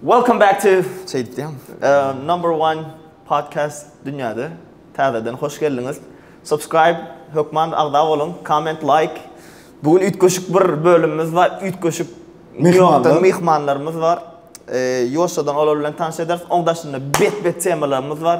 Welcome back to şeýdip diýem. Number one podcast dünýäde. Täzeden hoş geldiňiz. Subscribe hökman agza boluň. Comment like. Bu gün üýtgeşik bir bölümimiz bar. Üýtgeşik mehmanlar, mehmanlarymyz bar. Ýoşadan olar bilen tanyş ederis. Oň daşynda bet-bet temalarymyz bar.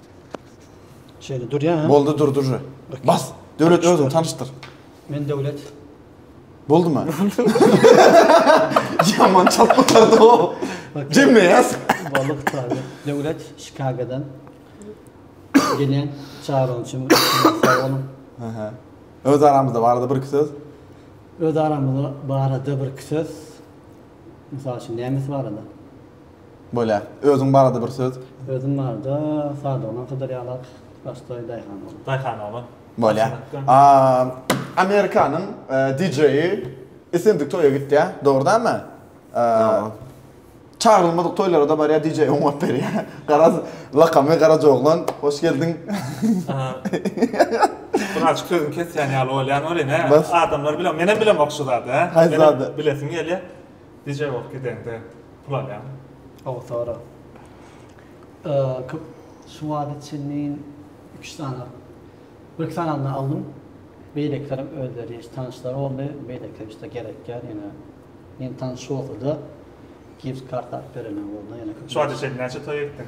Şeýle durýar. Boldy dur dur. Bas. Döwlet özüň tanyşdyr. Men Döwlet. Boldumy? Ýaman çatmykardy o. Jemle ýaz. Boldy gutaly. Döwlet Şikagodan gelýän çagyryň üçin sag boluň. Aha. Öz aramyzda barada bir iki söz. Öz aramyzda barada bir iki söz. Mysal üçin, nemes barada? Bolýa. Özüň barada bir söz? Özüm barada, Sadygyndan Sydyrýarlar, başda daýhan oglan. Daýhan oglan. Bolýa. A, Amerikanyň DJ-i islendik toýa gitýär, dogry dälmi? Dogry. Çagyrylmadyk toýlara-da barýar, DJ oňap berýär. Garaz, lakamy Garaja oglan, hoş geldiň. Buna açyk sözüň kesýän ýaly bolýan welin hä? Adamlar bilen menem bilemok şu zady hä? Haýsy zady? Bilesim gelýä. DJ bolup gideňde pul alýaň. Gowy sorag. Köp şu wagta çenli üç sany bir iki sanyny aldym. Beýlekilerem özleri hiç tanyşlar boldy. Beýlekiler hiç de gerekýär ýene. Ýene tanyş bolsa-da gift karta alyp berenler boldy. Ýene köp. Şu wagta çenli näçe toýa gitdiň?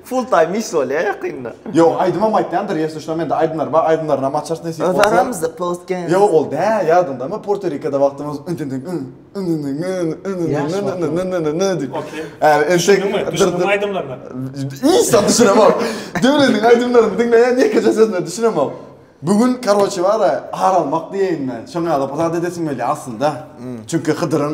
Full time iş bolýa ýakynda. Ýok aýdymam aýtýandyr ýesi düşnä mende aýdymlar bar aýdymlaryna maçars nesip bolsa. Aramyzda podcast. Ýok ol dä ýadyňdamy Porto-Rikoda wagtymyz diýip. Okey. Düşündiňmi? Düşündiňmi aýdymlaryna? Islam düşünemok. Döwletiň aýdymlaryny diňleýän ýekeje sözüne düşünemok. Bu gün karoçi bara ar almak diýeýin men. Şoňa ýalyp zat edesim gelýär aslynda. Çünki Hydyryň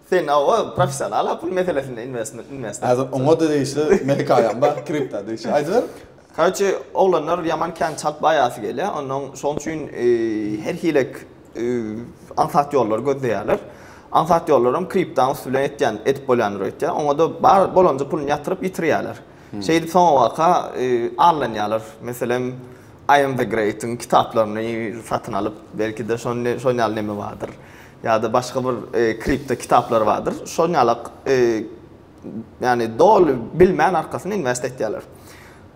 Sen ow ow professional ha pul meselesinde investment investment. Hazir oňa da degişli men hikaýam bar kripta degişli aýdyber. Karoçe oglanlar ýaman kän çalt baýasy gelýär onnoň şoň üçin her hilek aňsat ýollary gözleýärler. Aňsat ýollaram kriptanyň üsti bilen etýän edip bolýandyr öýtýär. Oňa da bar bolanja pulyny ýatyryp ýitirýärler. Şeýdip soňabaka allanýarlar. Meselem I am the great'yň kitaplaryny satyn alyp belki de şon şon ýaly neme bardyr. Ýa-da başga bir kripto kitaplar bardyr. Şoň ýaly ýany doly bilmän arkasyna invest etýärler.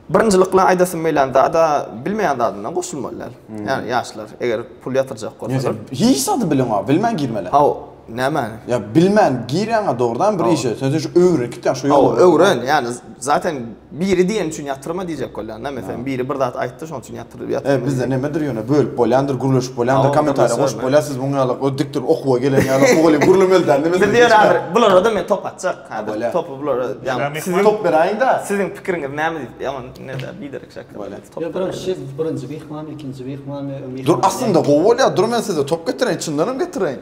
Birinjilikle aýdasym gelýän zada bilmeýän zadyndan goşulmaly däl. Ýani ýaşlar eger pul ýatyrjak bolsalar. Hiç zady bilen bar bilmän girmeli. Haw nämäni? Ýa bilmän girýäňä dogrudan bir işe. Sen şu öwrenip gitýäň şu ýoly. Haw öwren ýani. Zaten biri diýen üçin ýatyrma diýjek bolýan da meselem biri bir zat aýtdy şoň üçin ýatyr ýatyrma. He bizde nemedir ýöne bölüp bolýandyr gürleşip bolýandyr kommentariýa goşup bolýar siz muňa ýaly o dikdir okuwa gelen ýaly mugalym gürlemeli däl neme. Biz ýöne häzir bularada men top atjak häzir topy bulara ýaňy siziň top beräýiňdä siziň pikiriňiz näme diýip ýaman nede biderek şekil bolýar top beräýiň. Birinji şef birinji myhman ikinji myhman we myhman. Dur aslynda gowy bolýar dur men size top getireýin çyndanam getireýin.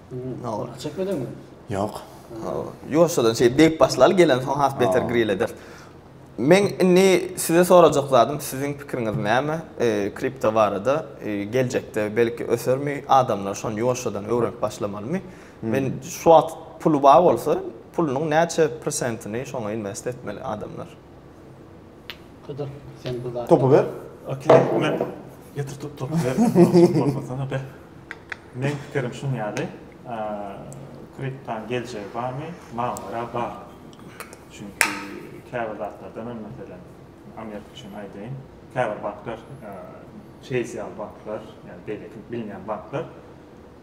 Awuryp çekmediňmi? Ýok. Ýoşadan şeýdip degip başlaly gelen soň has beter grill eder. Men indi size sorajak zadym, siziň pikiriňiz näme? Kripto barada geljekde belki ösermi? Adamlar şony ýoşadan öwrenip başlamalymy? Men şu wagt puly bar bolsa, pulunyň näçe prosentini şoňa invest etmeli adamlar? Hydyr, sen bu zat. Topy ber. Okey, men getirtip topy ber. Bolmasana be. Meň pikirim şuň ýaly, kriptanyň geljegi barmy? Maňa görä bar. Çünki käbir zatlarda men meselem Amerika üçin aýdaýyn, käbir banklar, Chase ýaly banklar, ýa-da beýleki bilmeýän banklar,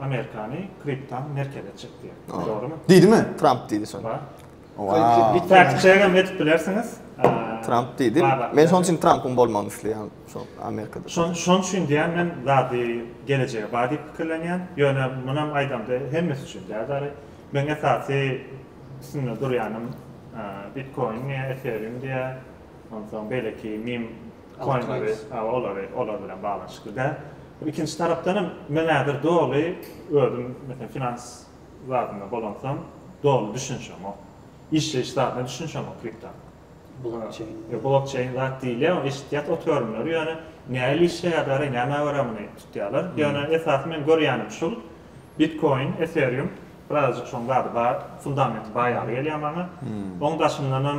Amerikany kriptan merkeze çekdi. Dogrymy? Diýdimi? Tramp diýdi şony. Fakçegem edip bilersiňiz. Tramp diýdi. Men şonuň üçin Trampyň bolmagyny isleýän şo Amerikada. Şon şonuň üçin diýen men zady gelejege bar diýip pikirlenýän. Ýöne munam aýdamda hemmesi üçin däl däli. Men esasy üstünde durýanym Bitcoin diýä, Ethereum diýä, onsoň beýleki meme koinleri, olary, olar bilen baglanyşykly däl. Ikinji tarapdan hem men häzir doly özüm meselem finans zadynda bolansam doly düşünşemok. Işleýiş zadyna düşünşemok kriptonyň. Blokçeýn. Ýa blokçeýn zat diýilýär, eşitýäs ot görümleri, ýöne nähili işleýär däl-aý, nämä görä muny tutýarlar. Ýöne esasy men görýänim şul, bitkoin, ethereum, birazajyk şoň zady bar, fundamenti bar ýaly gelýär maňa. Oň daşyndanam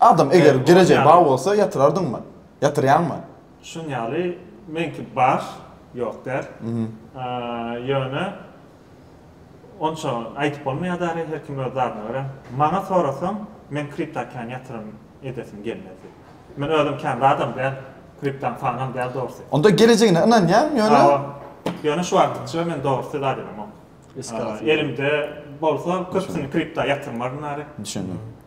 Adam eger girejegi bar bolsa ýatyrardyňmy? Ýatyrýaňmy? Şuň ýaly meňki bar, ýok däl. Ýöne onça aýdyp bolmaýar däl, her kim öz zadyna görä. Maňa sorasaň, men kripta kän ýatyrym edesim gelmedi. Men özüm kän zadam däl, kriptany fanam däl dogrusy. Onda girejegine ynanýaň ýöne? Ýöne şu wagtykça men dogrusy zat elemok. Elimde bolsa köpüsini kripta ýatyrmardym äri. Düşündim.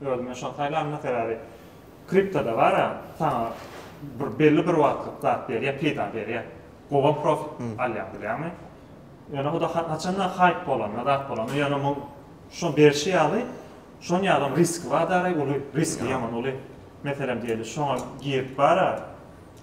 Özüme şony saýlanma sebäbi kriptoda bara saňa bir belli bir wagtlyk zat berýär, peýda berýär. Gowam profit alýaň bilýäňmi? Ýöne huda haçanda haýp bolanda, zat bolanda ýöne muň şo berşi ýaly, şon ýalam riski bar daraý uly, riski ýaman uly. Meselem diýeli şoňa girip bara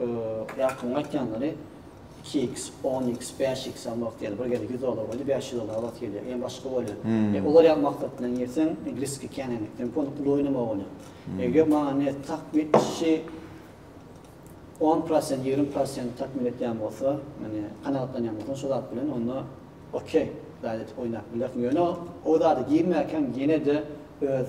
Ýakymyň aýtýanlary iki iks, on iks, bäş iks hem wagt gelýär. Bir gezek ýüz dollar goýdy, bäş ýüz dollara wagt gelýär. Ýene başga bolýar. E, olar ýaly maksatdan girseň, e, riski kän hem, hem pul, pul oýnamagy bolýar. Eger maňa ne tak bir işçi on prosent, ýigrimi prosent takmyr etýän bolsa, ýagny kanagatlanýan bolsaň şo zat bilen, onda okey, zat edip oýnap bilersiň. Ýöne o zada girmänkäm ýene-de öz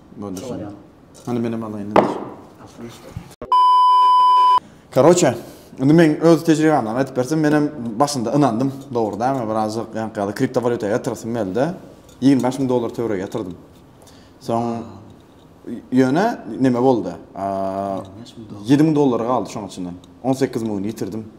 Hany menem alaýyn. Karoçe, indi men öz tejribämden aýdyp bersem, menem başynda ynandym. Dogry dämi, birazjyk ýankyýada kriptowalýuta ýatyrasym geldi. 25 müň dollar töweregi ýatyrdym. Soň ýöne neme boldy? 7 müň dollary galdy şoň içinden. 18 müňüni ýitirdim.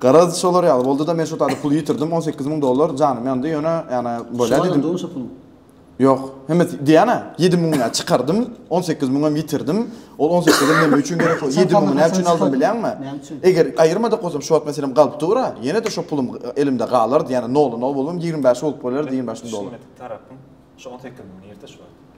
Garaz, şolar ýaly boldy-da, men şo taýda pul ýitirdim, on sekiz müň dollar, janym ýandy, ýöne, ýana, bolýa diýdim. Şoňa ýandymy şo puluň? Ýok, hemmesi, diýýän-ä, ýedi müňüni-ä çykardym, on sekiz müňem ýitirdim, ol on sekizem näme üçin gerek boldy, ýedi müňi näme üçin aldym bilýäňmi? Näme üçin? Eger aýyrmadyk bolsam, şu wagt meselem galyp dur-a, ýene-de şo pulum elimde galardy, ýagny, nola-nol bolmam, ýigrimi bäşi bolup bolýardy, ýigrimi bäş müň dollar. Düşünmedik tarapym, şo on sekiz müňüni ýitir şu wagt.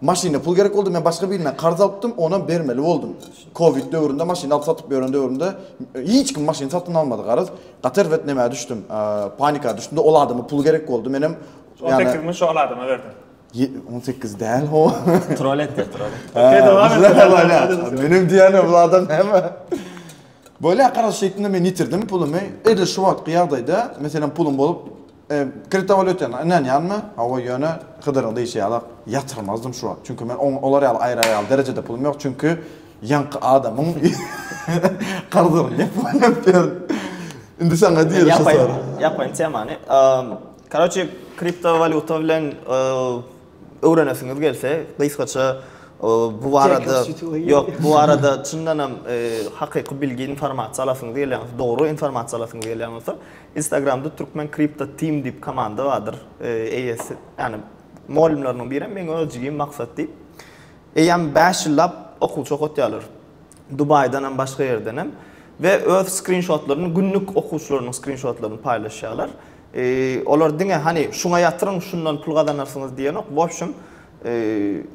Maşyna pul gerek boldy, men başga birinden karz alypdym, onam bermeli boldum. Covid döwründe maşyn alyp satyp ýören döwrümde hiç kim maşyn satyn almady garaz. Gaty erbet nämä düşdüm, panika düşdümde ol adama pul gerek boldy, menem on sekiz müň şol adama berdim. On sekiz däl ho. Trol etdir, trol. Menem diýýän bu adam näme? Bolýa garaz şeýtdim-de men ýitirdim pulumy. Edil şu wagtky ýagdaýda meselem pulum bolup Kriptowalýutasyna ynanýanmy? Hawa, ýöne Hydyryň diýşi ýaly ýatyrmazdym şu wagt. Çünki men oň olar ýaly aýrar ýaly derejede pulum ýok, çünki ýaňky adamyň karzyny ýapyp ýörün. Indi saňa diýeris şu soragy. Ýapayyn, ýapayyn temany. Karoçi, kriptowalýuta bilen Öwrenesiňiz gelse, gysgaça bu barada ýok, bu barada çyndan hem hakyky bilgi, informasiýa alasyňyz gelýän bolsa, dogry informasiýa alasyňyz gelýän bolsa, Instagramda Türkmen Crypto Team diýip komanda bardyr. Eýesi, ýagny mugallymlarynyň biri hem meň öz jigim Maksat diýip. Eýýäm bäş ýyllap okuwçy okatýarlar. Dubaýdan hem, başga ýerden hem we öz skrinşotlaryny, günlük okuwçylarynyň skrinşotlaryny paýlaşýarlar. Olar diňe hany şuňa ýatyryň şundan pul gazanarsyňyz diýenok, bobşum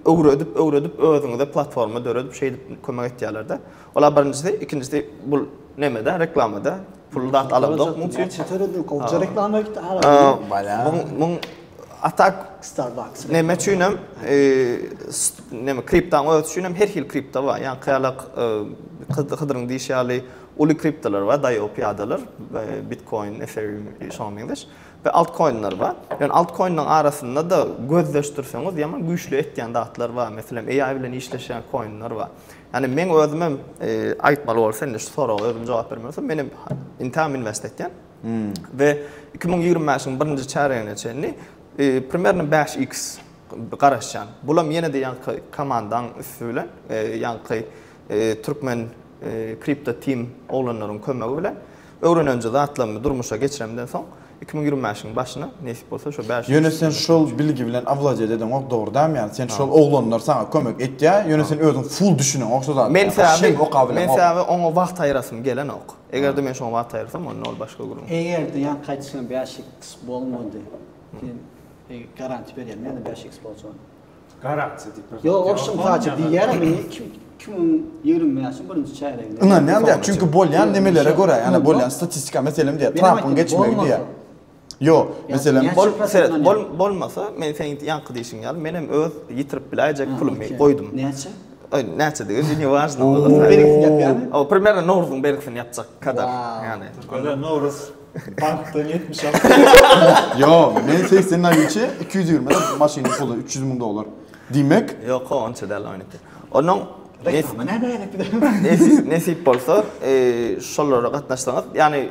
öwredip öwredip özüňize platforma döredip şeýdip kömek etýärlerde. Ola birinjisi, ikinjisi bul nemede reklamada pul zat alanzok muň üçin. Çeter edil goja reklama gitdi ara. Muň atak Starbucks. Neme üçin hem neme kriptaň özi üçin hem her hil kripta bar. Ýa-da kaýalak Hydyryň diýşi ýaly Uly kriptolar bar, DAO pyýadalar, Bitcoin, Ethereum, şoňa meňzeş we altkoinler bar. Ýöne altkoinleriň arasynda-da gözleşdirseňiz ýaman güýçli etýän zatlar bar. Meselem, AI bilen işleşýän koinler bar. Ýani meň özümem aýtmaly bolsa indi şu soraga özüm jogap bermeli bolsam, menem Inteam Invest etýän we iki müň ýigrimi bäşiň birinji çärýegine çenli primerno bäş iks garaşýan. Bulam ýene-de ýaňky komandaň üsti bilen ýaňky Türkmen Crypto Team oglanlaryň kömegi bilen öwrenenje zatlarymy durmuşa geçiremden soň, iki müň ýigrimi bäşiň başyna nesip bolsa şo bäş ýüz. Ýöne sen şol bilgi bilen awladýet edeňok dogrydaýmy ýani sen şol oglanlar saňa kömek etýä ýöne sen özüň full düşüneňok şo zada ýani bir şeymi oka bileňok. Men sebäbi oňa wagt aýyrasym gelenok. Egerde men şoňa wagt aýyrsam onda ol başga gürrüň. Egerde ýan gaýdyşyňa bäş x bolmady sen garanti berýäňmi ýa bäş x boljagyna. Garakçy diýip bir. Ýok, ol şymhaçy diýýärem indi kim kim onuň ýigrimi bäşiň birinji çärýeginde. Ynanýan däl, çünki bolýan nimelere görä, ýa-da bolýan statistika meselem diýýär, Trampyň geçmegi diýýär. Ýok, meselem, bol, seret, bol, bolmasa, men seň ýaňky diýşiň ýaly, menem öz ýitirip biläýjek pulumy goýdum. Näçe? Näçe degen indi ne wažno. Berigisini ýapýarmy? Ow, primerne Nowruzyň berigisini ýapjak kadar. Ýagny. Nowruz. Bankdan 70 al. Yo, men 80 ay içi 220 de maşynyň pulu 300 ming dolar. Diýmek, Yok o onça däl oýnukda. Onuň nes- Reklama näme gerek bir de? nesip, nesip bolsa eee, şolara gatnaşsaňyz. Ýagny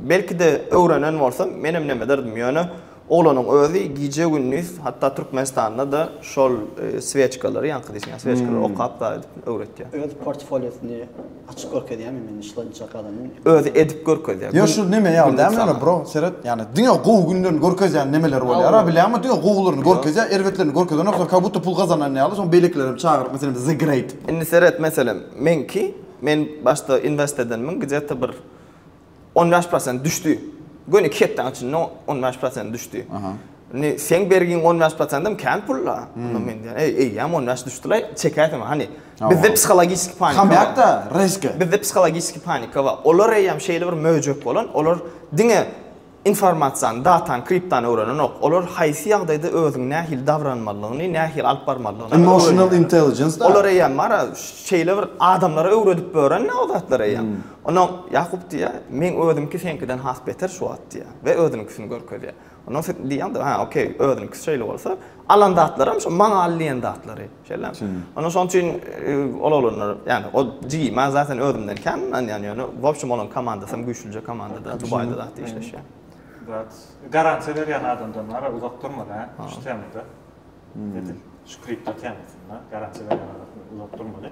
belki de öwrenen bolsam menem neme ederdim ýöne Oglanyň özi gije-gündiz, hatda Türkmenistanda-da şol swýeçkalary, ýaňky diýseň swýeçkalary okap zat edip öwretýär. Öz portfoliosyny açyp görkezýärmi men şlança galamyň? Özi edip görkezýär. Ýa şu neme ýaly dälmi ýöne bro, seret, ýani diňe gowy günlerini görkezýän nemeleri bolýar-a, bilýäňmi? Diňe gowularyny görkezýär, erbetlerini görkezenoksoň kak budda pul gazanan ýaly, soň beýlekileri hem çagyryp, meselem, The Great. Indi seret, meselem, meňki, men başda invest edenmiň, gije-te bir On bäş prosent düşdi. Göni iki hepdäň içinde on bäş prosent düşdi. Indi sen bergiň on bäş prosentim kän pul-la. Onda hmm. men diýen, eý, eýýäm on bäş düşdi-la, çekäýsem, hany. Bizde psihologiki panika. Hamyýakda riski. Bizde psihologiki panika bar. Olar eýýäm şeýle bir möjek bolan, olar diňe informasiýany, datany, kriptany öwrenenok. Olar haýsy ýagdaýda özüň nähili dabranmalygyny, nähili alyp barmalygyny. Emotional intelligence. Olar eýýäm bar, şeýle bir adamlara öwredip bören o zatlar eýýäm. Hmm. Ondan Ýakup diýýär, Meň özümki seňkiden has beter şu wagt diýýär we özüniňkisini görkezýär. Ondan soň diýýämdir, Hä, okey, özüniňkisi şeýle bolsa, alan zatlarym şo maňa al diýen zatlary. Şeýlemi? Ondan şonuň üçin ol oglanlar, ýagny o jigi, maňa zaten özümden kän ynanýan ýöne, w opşum olaň komandasam güýçlüje komandada, Dubaýda zat işleşýär. Brat, garansiýa berýän adamdan wara uzak durma dä, şu temada. Edil şu kripto temasynda garansiýa berýän adamdan uzak durmaly.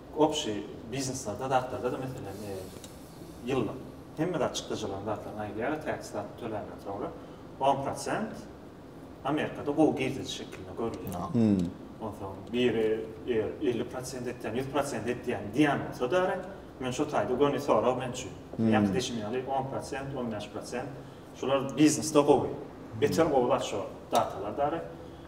Obşi bizneslerde zatlarda-da meselem ýyllyk hemme zat çykdajylaryň zatlaryny aýyrýarlar tax zadyny töländen soňra on prosent Amerikada gowy girdejy şekilinde görülýär. Onsoň biri eger elli prosent etýän ýüz prosent etýän diýen bolsa däri men şo taýda göni sorag men üçin. Ýaňky diýşim ýaly on prosent on bäş prosent şular biznesde gowy beter gowy zat şo datalar däri.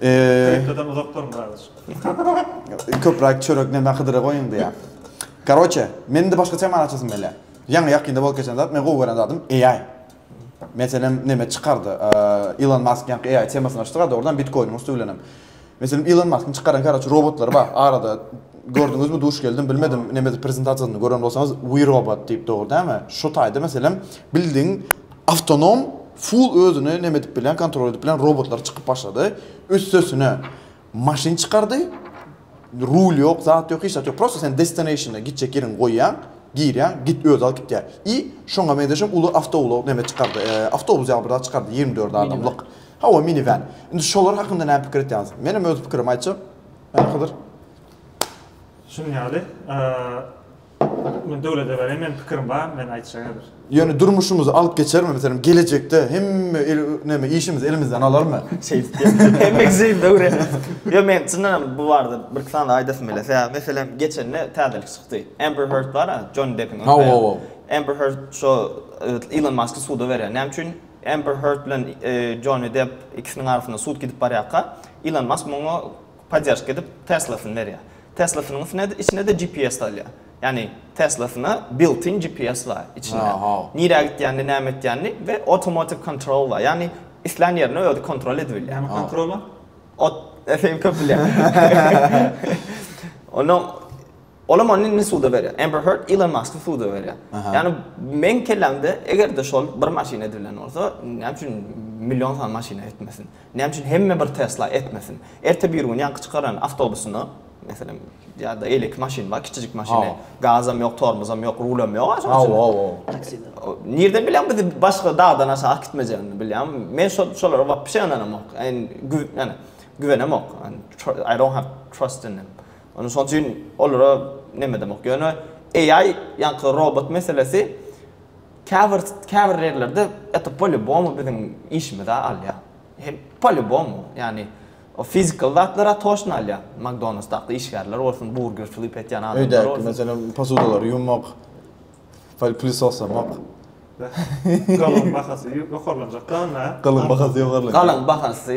Kriptodan uzak durun kardeş. Köprak çörek ne nakydyra goýun diýä. Karoçe, men de başgaça many açasym gelýär. Ýaňy ýakynda bolup geçen zat, men gowy gören zadym AI. Meselem, neme çykardy? Elon Musk ýaňky AI temasyny açdyk, a dogrudan Bitcoin-iň üsti bilenem. Meselem, Elon Musk-yň çykaran karoçe robotlary bar. Arada gördüňizmi, duş geldim, bilmedim, nemedir prezentasiýasyny gören bolsaňyz, We Robot diýip dogry dämi? Şu taýda meselem, bildiň Awtonom full özüni neme edip bilýän kontrol edip bilýän robotlar çykyp başlady. Üstesine maşyn çykardy. Rul ýok, zat ýok, hiç zat ýok. Prosta sen destinationa gitjek ýeriňi goýýaň, girýäň, git özi alyp gitýär. I şoňa meňzeşem uly awtoulag neme çykardy, awtobus ýaly bir zat çykardy ýigrimi dört adamlyk. Hawa minivan. Indi şolar hakynda näme pikir etýäňiz? Menem öz pikirimi aýtjak. Hany Hydyr. Şunuň ýaly. Men döwlede berem men pikirim bar men aýtjak häzir. Ýöne durmuşymyzy alyp geçermi meselem gelejekde hemme el neme işimizi elimizden alarmy. Şeýdip ýöne hemmeňiz şeýdip öwreniňiz. Ýok men çyndan hem bu barada birki san zat aýdasym gelýär. Sebäbi meselem geçende täzelik çykdy. Amber Heard bar-a Jony Deppiň öň aýaly. Amber Heard şo Ilon Masky suda berýär. Näme üçin Amber Heard bilen Jony Depp ikisiniň arasynda sud gidip barýarka Ilon Mask muňa podderşka edip Tesla-syny berýär. Tesla-synyň üstüne içine-de GPS salýar. Ýagny Tesla-syna built-in GPS bar içinde. Nirä gitýänini, näme etýänini we automatic control bar. Ýagny islän ýerini özi kontrol edip bilýär. Näme kontrol bar? Ot, sen köp bilýäň. Onda olam ony indi suda berýär. Amber Heard Elon Musky suda berýär. Ýagny meň kellämde eger-de şol bir maşyn edibilen bolsa, näme üçin million sany maşyna etmesin? Näme üçin hemme bir Tesla etmesin? Erte birigün ýaňky çykaran awtobusyna, meselem, ýa-da eýleki maşyn bar, kiçijik maşyny, gazam ýok, tormozam ýok, rulam ýok-a şonuň üçin. Hawa-hawa. Taksida. Nirden bilýäň bizi başga dagdan aşak gitmejegini bilýäňmi? Men şol şolara wapşe ynanamok. Ýani, güwenemok. I don't have trust in them. Ony şonuň üçin olara nemedemok. Ýöne AI, ýaňky robot meselesi, Käbir käbir ýerlerde et polibomu biziň işimize alýar. Hem polibomu, ýagny o fizikal zatlara toşn alýar. Magdonus dakda işgärler bolsun, burger flip etýän adamlar bolsun. Öýdäki meselem posudalary ýuwmak, pol plisoslemek. Galyň bahasy ýokarlanjak dal nä? Galyň bahasy ýokarlanýar. Galyň bahasy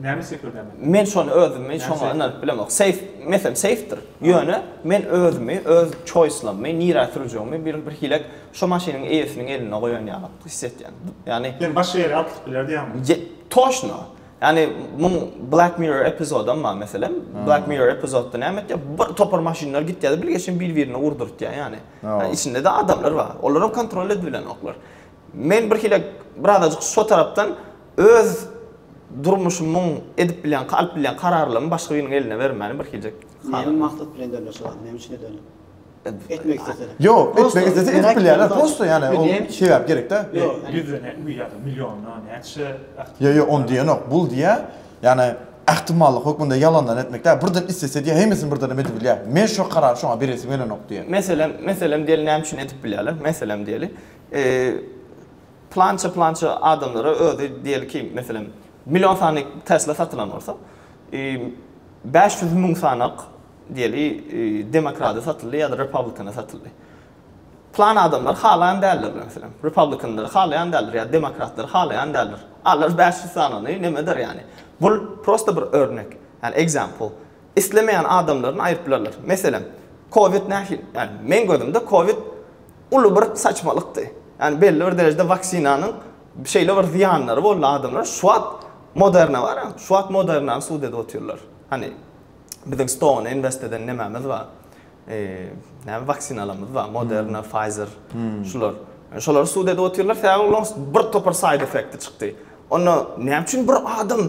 Näme sekirdemek? Men şony özümi şoňa ynanyp bilemok. Seýf, meselem, seýfdir. Ýöne men özümi, öz çoýslamy nirä sürjegimi bir bir hilek şo maşynyň eýesiniň elinde goýan ýaly his edýän. Ýagny Ýöne başga ýere atylyp biler diýýäňmi? Toşno. Ýagny muň Black Mirror epizodam bar meselem. Black Mirror epizodda näme etýär? Bir topar maşynlar gitýär-de bilgeşin bir-birine urdurtýar ýagny. Ýa içinde-de adamlar bar. Olaram kontrol edip bilenoklar. Men birhili birazajyk şo tarapdan öz durmuşymyň edip bilýän, alyp bilýän kararlarymy başga biriniň eline bermäni birhiljek halaýan. Näme maksat bilen derleşik aldy? Näme üçin edeli? Etmek islesene. Ýok, etmek islese edip bilýärler. Prosto ýani ol sebäp gerek-dä. Ýüzden ýa-da milliondan näçe ähtimal. Ýok, ýok, ony diýenok. Bul diýýär, ýani ähtimallyk hökmünde ýalandan etmek däl. Birden islese diýýär, hemmesini birden hem edibilýär. Men şo karary şoňa beresim gelenok diýýär. Meselem, meselem diýeli näme üçin edip bilýärler? Meselem diýeli, E, plança-plança adamlara özi diýeli ki, meselem, million sany Tesla satylan bolsa, e, 500 müň sanak diýeli e, demokrada satyldy ýa-da republikana satyldy. Plan adamlar halaýan däldir, meselem, republikanlary halaýan däldir ýa demokratlary halaýan däldir. Alar 500 sanyny nemedir ýani. Bul prosta bir örnek, ýani example. Islemeýän adamlaryny aýyryp bilerler. Meselem, covid nähili, ýani meň gözümde covid uly bir saçmalykdy. Ýani belli bir derejede waksinanyň şeýle bir zyýanlary boldy adamlara. Şu wagt Moderna bar, şu wagt Modernany sud edip otyrlar. Hany biziň stoguna invest eden nemämiz bar? Näme waksinalarymyz bar, Moderna, Pfizer, şular. Şolary sud edip otyrlar, sebäbi olaryň bir topar side effekti çykdy. Onda näme üçin bir adam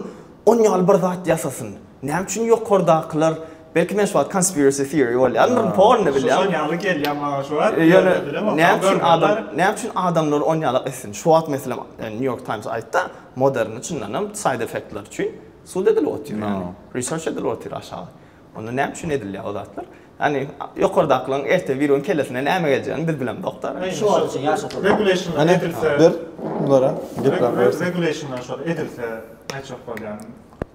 on ýaly bir zat ýasasyn? Näme üçin ýokardakylar Belki men şu wagt conspiracy theory bolýarmyryn, porno bilýän. Şol ýaly gelýär maňa şu wagt. Ýöne näme üçin adam, näme üçin adamlar on ýalak etsin? Şu wagt meselem New York Times aýtdy, Moderna çyndan hem side effektler üçin sud edilip otyr ýaly. Research edilip otyr aşagy. Onda näme üçin edilýär o zatlar? Ýani ýokardakylaryň erte biri gün kellesine näme geljegini biz bilemzok-da. Şu wagt üçin ýaşadyk. Regulation edilse. Ber bulara. Regulation edilse näçe bolýar?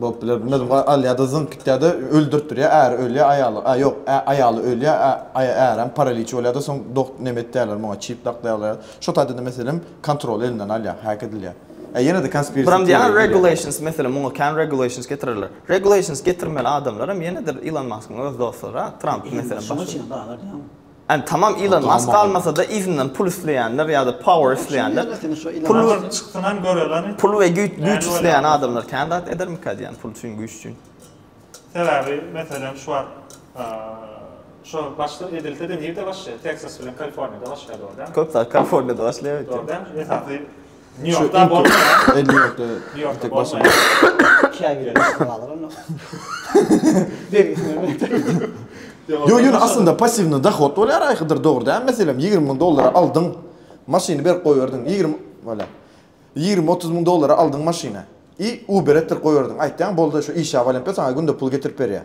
Bolup biler bunda dum a alýada zyňyp gitýäde öldürtdirýä äri ölýä aýaly a ýok ä aýaly ölýä ä aý ärem paraliç bolýada soň dok neme etýäler muňa çip daklaýalar şo taýdada meselem kontroly elinden alýa häk edilýä ä ýene-de konspirasiýa Buram diýýäler teoriýa gelýä. regulations meselem muňa kän regulations getirerler regulations getirmeli adamlaram ýene-de ilon maskyň öz dostlary a tramp meselem şoňa başga çenli bahalar ýaňy Ýani tamam Ilon Mask galmasada yzyndan pul isleýänler ýada power isleýänler pul pul we güýç güýç isleýän adamlar kän zat edermika diýýän pul üçin güýç üçin. Sebäbi meselem şu wagt şo başda edilsede nirde başlaýar Texas bilen Kaliforniýada başlaýar dogry dälmi? Köp zat Kaliforniýada başlaýar. Dogry dälmi? Esasy Nýu-Ýorkda bolmaýar. Nýu-Ýorkda bir tek başym bar. Iki aý bilen üstüne galar onda. Bergisini berip. Ýok, ýöne aslynda passiwnyý dohod bolýar aýkydyr, dogry däl, meselem, ýigrimi müň dollara aldyň, maşyny berip goýberdiň, ýigrimi, wala, ýigrimi-otuz müň dollara aldyň maşyny i Uber etdirip goýberdiň, aýtýaň, boldy, şu işe walempe saňa günde pul getirip berýär.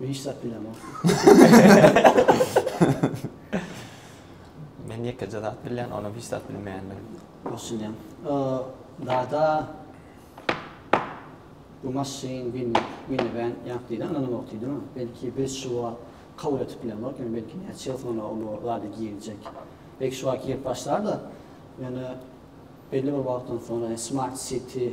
Hiç zat bilemok. Men ýekeje zat bilýän, onam hiç zat bilmeýändir. Düşünýän. Dada bu maşyn bin mini ben ýap diýdi, anam ýok diýdi. Belki biz şu wagt kabul etip bilemok, ýöne belki näçe ýyl soňra ol zada girjek. Belki şu wagt girip başlar-da, ýöne belli bir wagtdan soňra smart city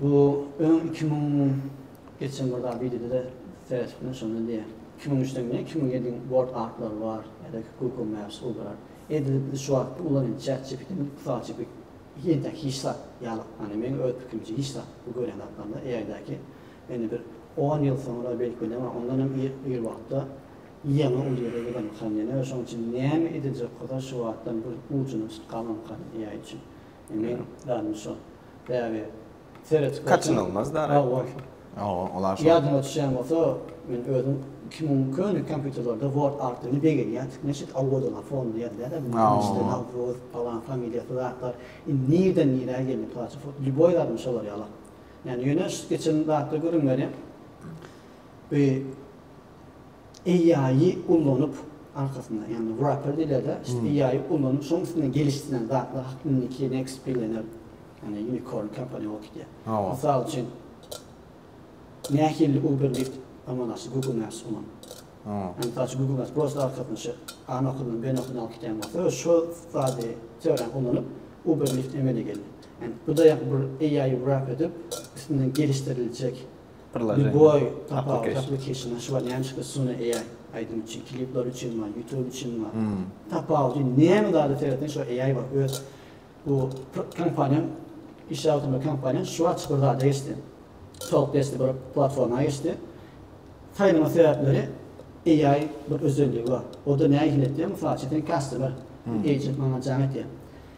Bu öň iki müň geçen bir zat wideoda-da seretipdim şonda diýýär. Iki müň üçden gidýän, iki müň ýediň word artlary bar ýa-da google maps gurdular. Edil biz şu wagt ulanyň chat GPT-ni mysal üçin bir entäk hiç zat ýaly ýagny meň öz pikirimçe hiç zat bu görýän zatlarymda AI däki indi bir on ýyl soňra belkide bar ondan hem ir ir wagtda ýaňy uly ýere gelemkan ýene şoň üçin näme ediljek bolsa şu wagtdan bir gujuna tutup galmamkan AI üçin. Indi zadymy şo däbi seretip görseň. Kaçynylmaz däbi. Hawa goý. Hawa, ol-a şo. Ýadyňa düşýän bolsa, men özüm iki müň köne kompýuterlerde Word artdygyny begenýän. Türkmen şit awodyna fonda ýazylýar-da, Müşde Nawruz, palan familiýasy zatlar. Indi nirden nirä geldi Paço fot. Lýuboý zadymy şolar ýala. Ýöne şu geçen zatda gürrüň berýän. Bi AI-y ullanyp, arkasynda, ýagny wrapper diýilerde, AI-y ullanyp, şoň üstünden gelişdirilen zatlar hakda indiki next billioner, ýagny unicorn kompaniýa bolup gidýär. Mysal üçin, nähili Uber diýip amal aşyr Google Maps bolan. Ýagny mysal üçin Google Maps prosta arkasynda şu A nokadyndan B nokadyna alyp gidýän bolsa, öz şo zady, teoriýany ullanyp, Uber Lyft emele geldi. Ýagny bu-da ýa-da bir AI-y wrap edip, üstünden gelişdiriljek Liboy tapawutly application şu bar näme çykdy Sune AI aýdym üçin klipler üçin bar youtube üçin bar tapawudy näme zada seretseň şu AI bar öz bu kompaniýam işläp oturan kompaniýam şu açyk bir zada geçdi talk desdi bir platforma geçdi saýlama sebäpleri AI bir özelligi bar oda nähili etdi mysal üçin sen customer agent maňa jaň etýär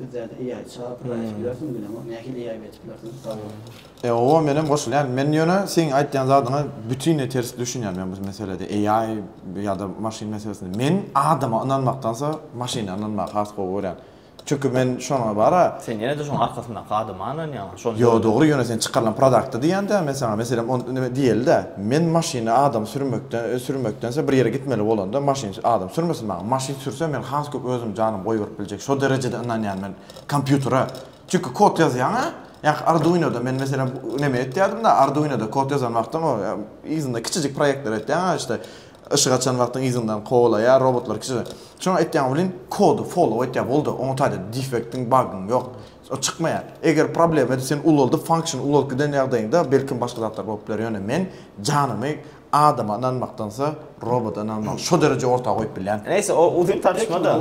Bizlerde eýe aýt çaga pul aýdyp bilersiň bilemok nähili eýe aýyp bilersiň sag bol. E oba menem goşulýan men ýöne seň aýtýan zadyňa bütinleý ters düşünýän men bu meselede eýay ýada maşyn meselesinde men adama ynanmakdansa maşyna ynanmagy has gowy görýän çünki men şoňa bara. Sen ýene-de şoň arkasyndaky adama ynanýaň. Ýo dogry ýöne sen çykarylan prodakty diýýändä men saňa meselem ony nime diýelidä men maşyny adam sürmekden sürmekdense bir ýere gitmeli bolanda maşyn adam sürmesin maňa maşyn sürse men has köp özüm janym goýberip biljek şo derejede ynanýan men kompýutere çünki kod ýazýaň a ýaňky arduinoda men meselem neme etýärdim-da arduinoda kod ýazan wagtyň o yzynda kiçijik proýektler etýäň a işte yşyk açan wagtyň yzyndan kowalaýar robotlar kiçi şoňa etýäň welin kody follow etýär boldy oňa taýda defektiň bagyň ýok O çykmaýar. Eger problemany sen ulaldyp function ulalyp giden ýagdaýyňda belkim başga zatlar bolup biler ýöne men janymy adama ynanmakdansa roboda ynanmagy şo dereje orta goýup bilýän. Näýse o uzyn tartışma da.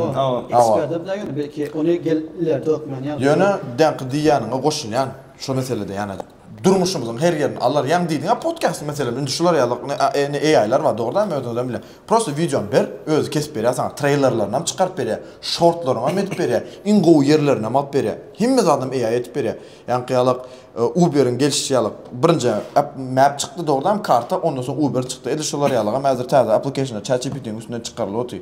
Ekspertler bilen ýöne belki ony gelip ileride hökman ýazarlar. Ýöne dänki diýýäniňe goşulýan şu meselede ýanajyk. Durmuşymyzyň her ýerini alar. Ýagny diýdiňä podkast meselem indi şular ýaly indi AI-lar bar dogrydanam özüňizem bilýän. Prosta wideony ber, özi kesip berýär saňa, treýlerlerinam çykaryp berýär, şortlaryňam edip berýär, iň gowy ýerlerinam alyp berýär. Hemme zadynam AI edip berýär. Ýaňky ýaly Uber-iň gelşi ýaly birinji app map çykdy dogrydanam karta ondan soň Uber çykdy. Edil şolar ýalygam häzir täze application-lar ChatGPT-niň üstünden çykarylyp otyr.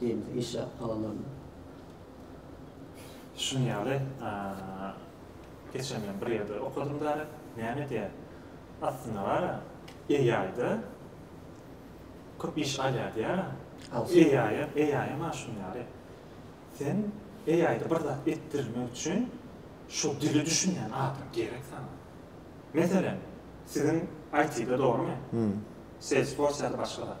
Diýmek işe alanlarynda. Şunuň ýaly geçen men bir ýerde okadym däli näme diýä aslynda bara AI-da köp iş alýar diýýärä. AI-ýa AI-ýa maňa şunuň ýaly sen AI-da bir zat etdirmek üçin şol dili düşünýän adam gerek saňa. Meselem siziň IT-de dogrymy? Salesforce ýa-da başga zat.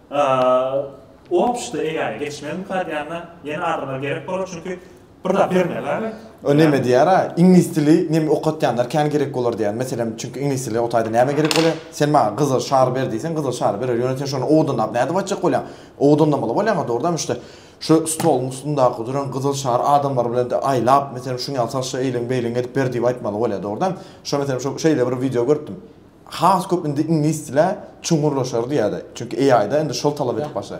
Opşta egäne geçmeli mukadýana ýene adamlar gerek bolar çünki bir zat bermeli. O neme diýýära iňlis dili neme okatýanlar kän gerek bolar diýýär meselem çünki iňlis dili otaýda näme gerek bolýa sen maňa gyzyl şary ber diýseň gyzyl şary berer ýöne sen şony owadanlap nädip açjak bolýaň owadanlamaly bolýaňa dogrudanam işte şu stoluň üstündaky duran gyzyl şary adamlar bilen de aýlap meselem şuňňaly salşa eýleň beýleň edip ber diýip aýtmaly bolýa dogrudanam şo meselem şo şeýle bir wideo görüpdim. Has köp indi iňlis dile çuňňurlaşardy ýa-da. Çünki AI-da indi şol talap edip başa.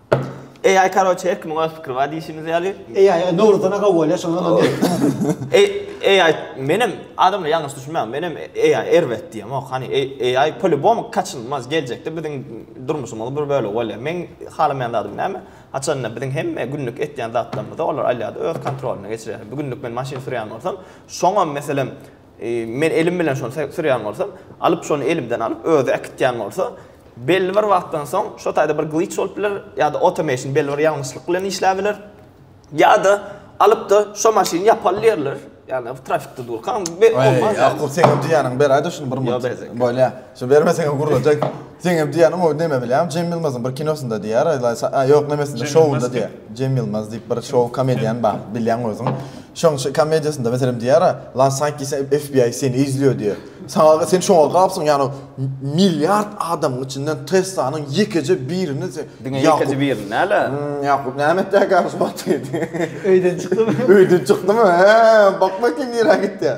AI karoçe her kimiň öz pikiri bar diýşimiz ýaly. AI e, Nowruzdan agaw bolýar şoňa ondan diýip. AI menem adamlar ýalňyş düşünmäň menem AI erbet diýýän ok hany AI polibom kaçynmaz geljekde biziň durmuşymyzyň bir bölegi bolýar meň halamaýan zadym näme haçanda biziň hemme günlük etýän zatlarymyzy olar alýada öz kontrolyna geçirýär bu günlük men maşyn sürýän bolsam şoňam meselem Men elim bilen şony sürýän bolsam, alyp şony elimden alyp özi äkitýän bolsa, belli bir wagtdan soň şo taýda bir glitch bolup biler, ýa-da automation belli bir ýalňyşlyk bilen işläp biler. Ýa-da alyp-da şo maşyny ýapaly diýerler. Ýagny trafikde durkaň be olmaz. Ýa-da sen öňki ýanyňy beräýde şuny bir minut. Bolýar. Şo bermeseňem gurlajak. Seňem diýýäniň o neme bilýäňmi? Cem Ýylmazyň bir kinosynda diýýär, aýlaýsa, a ýok nemesinde şowunda diýýär. Cem Ýylmaz diýip bir şow komediýan bar, bilýäň özüň. Şoň şo komediýasynda meselem diýýär, lan saýt diýseň FBI seni izliýo diýýär. Saňa sen şoňa gapsyň ýagny milliard adamyň içinden Teslanyň ýekeje birini sen Diňe ýekeje birini näle? Ýakup näme etýär gäbi şu wagt? Öýden çykdymy? Öýden çykdymy? He, bakma kim nirä gitýär.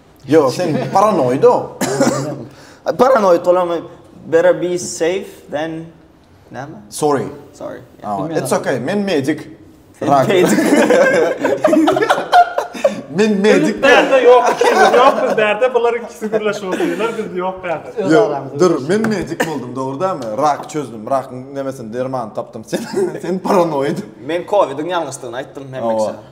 Yo sen paranoid o. Paranoid olam better be safe than näme? Sorry. Sorry. Oh, it's okay. Men medik. Rak. Men medik. Derde yok. Yok derde. Bunlar ikisi birleşip oturuyorlar. Biz yok derde. Yok. Dur. Men medik oldum. Doğru değil mi? Rak çözdüm. Rak nemesin derman taptım. Sen, sen paranoid. Men Covid'in yalnızlığını ayttım. Hem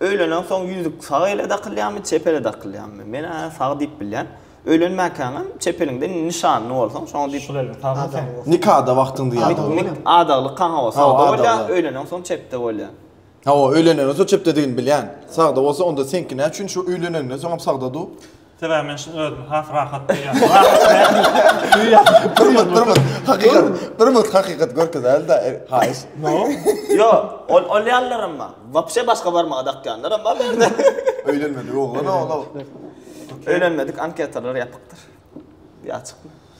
Öýlenen soň ýüzük sag ele dakylýarmy, çep ele dakylýarmy? Men-ä sag diýip bilýän. Öýlenmäkäň hem çep eliňde nyşanly bolsaň, şoňa diýip Sol eliň sagmy Adam sen? bolsa. Nikada wagtyňda ýa-da. Adaly bolýar. Nik adaglyk han hawa Hawa, sagda bolýar, adagly. öýlenen soň çepde bolýar. Hawa, öýlenenden soň çepdedigini bilýän. Sagda bolsa onda seňki näçün şu öýleneninden soňam sagda-du? Sebäbi men şuny özümi has rahat duýýan. Durmut, durmut, hakykat, durmut, hakykat görkezäýeli-dä, haýyş. No. Ýo, ol, ol ýalylaram bar. Wapşe başga barmaga dakýanlaram bar berde. Öýlenmedik oglan-a ol-a. Öýlenmedik anketalar ýapykdyr. Ýa açykmy?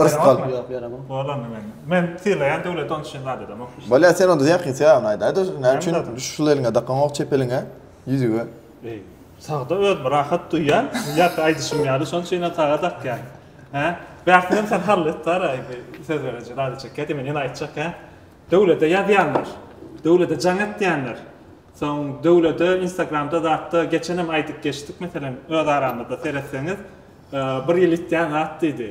Yrsy galyp ýok ýöne bu. Bor onda mende. Men sylaýan döwlet ony üçin zat edemok işte. Bolýa sen onda ýakyn syýagyny aýt. Aýda näme üçin şul eliňe dakaňok çep eliňe, ýüzüge. Eý, sagda özümi rahat duýýan, ýarka aýdyşym ýaly şonuň üçin hem saga dakýan. Hä? Bärtini hem sen hall et dara indi söz bereje zady çekýä diýip men ýene aýtjak hä. Döwlete ýazýanlar, döwlete jaň etýänler, soň döwlete instagramda zatda geçenem aýdyp geçdik meselem öz aramyzda seretseňiz Bir ýyl itýän zat diýdi.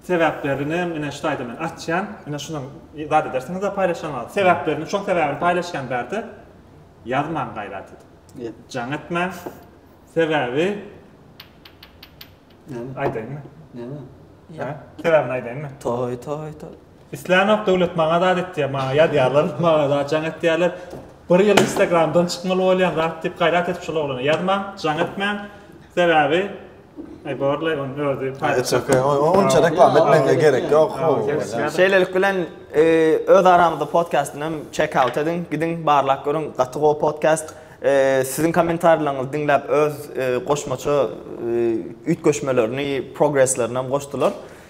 Sebäplerini ine şu taýda men açýan. Ine şunuň zat edersiňiz-de paýlaşanlar. Sebäplerini şoň sebäbini paýlaşýan bärde. Ýazmaň gaýrat edip. Ýet. Jaň etmäň. Sebäbi Näme? Aýdaýynmy? Näme? Hä? Sebäbini aýdaýynmy? Toý, toý, toý. Islänok döwlet maňa zat etýär maňa ýazýarlar maňa zat jaň etýärler bir ýyl instagramdan çykmaly bolýan zat diýip gaýrat edip şol oglana ýazmaň jaň etmäň sebäbi Ay borlay on özi Onça reklam etmekle gerek yok. Şeýlelik bilen e, öz aramyzda podcast'yny hem check out ediň, gidiň barlak görüň. Gaty gowy podcast. E, siziň kommentarlaryňyzy diňläp öz e, goşmaça üýtgeşmelerini, progresslerini hem goşdular.